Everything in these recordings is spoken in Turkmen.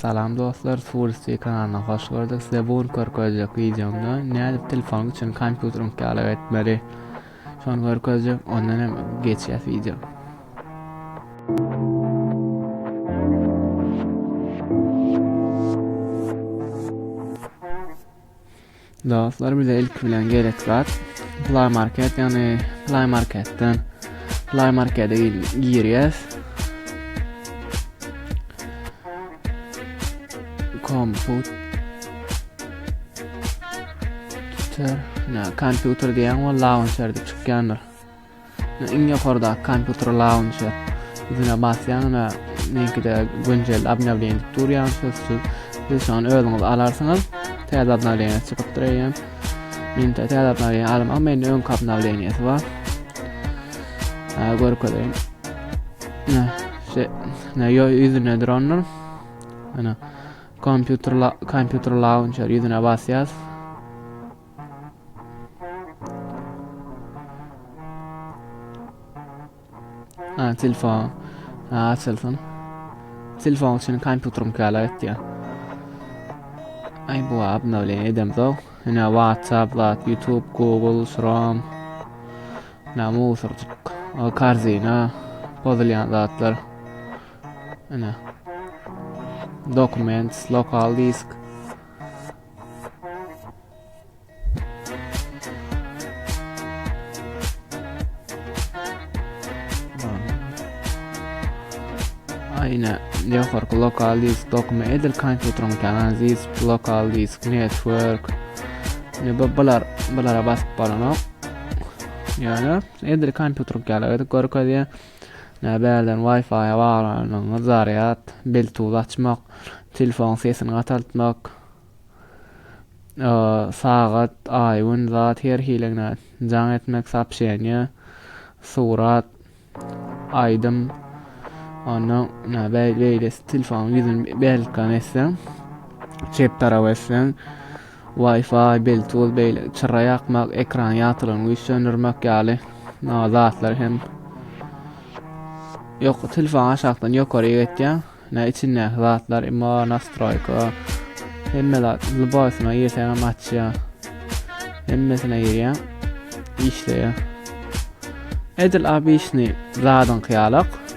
Salam dostlar Swulsti kanalyna hoş gördük size bu gün körkezjek wideomda nädip telefonyň içini kompýuteriň ýaly etmeli şony görkezjek ondan hem geçýäs wideo Dostlar bize ilki bilen gerek zat Play Market yani Play Market'ten Play Market'e girýäs. Komput Ter, kompýuter diýen we launcher diýip çykýandyr. Ýa iň ýokardaky kompýuter launçer. Üstüne basýaňyňda meňkide günjeldi obnawleniýa diýip durýar, sözsüz. Siz şu an özüňiz alarsyňyz. Täze obnawleniýa çykypdyr eýýäm. Men täze obnawleniýa almaň, mende öňki obnawleniýasy bar. Ha, görkezeýin. Ne, şu ne ýoý ýüzüne dronlar. Ana, kompýuter kompýuter launçer ýüzüne basýas. Ha, telefon. Ha, açylsyn. Telefon üçin kompýuterim käle etdi. Ay bu abna bilen edem zor. Yine WhatsApp, Zat, YouTube, Google, Chrome. Ne musurcuk. O karzina. Pozulyan zatlar. Yine. Documents, lokal disk. Aýna ýokarky lokal disk dokuma edil kompýuteriň tanan disk lokal disk network ne bu bular bulara basyp bolanok ýöne edil kompýuter ýaly görkezýär Nä bärden Wi-Fi-a baglanyňyz zarýad, Bluetooth açmak, telefonyň sesini gataltmak, sagat, aý, gün, zat her hiligine jaň etmek, sopşeniýa, surat, aýdym, onda nä beýlesi telefonyň ýüzüni belkan etseň, çep tarap etseň, Wi-Fi, Bluetooth beýleki çyra ýakmak, ekran ýagtylygyny güýçlendirmek ýaly zatlar hem ýok. Telefon aşakdan ýokary geçýär. Ne içindäki zatlar, imma nastroýka, hemme zat lübaýsyna ýetäň hem açýar. Hemmesine ýerýär. Işleýär. Edil obýşny zadyňky ýalak.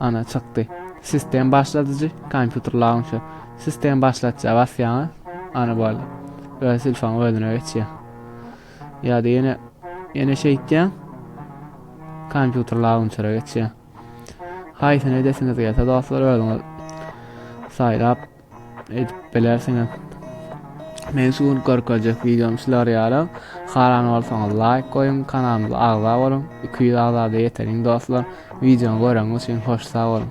Ana, çykdy. Sistem başladyjy, kompýuter launcher. Sistem başlatja basýaňyz, ana boldy. Öz telefonyň özüne geçýär. Ýa-da ýene ýene şeýtýäň. Kompýuter launchere geçýär. Haýsyny edesiňiz gelse dostlar özüňiz saýlap Edip bilersiňiz. Men şu gün görkezjek videom şular ýaly. Haran bolsaňyz laýk goýuň, kanalymyza agza boluň. 200 agzada ýeteriň dostlar. Videony göreňiz üçin hoş sag boluň.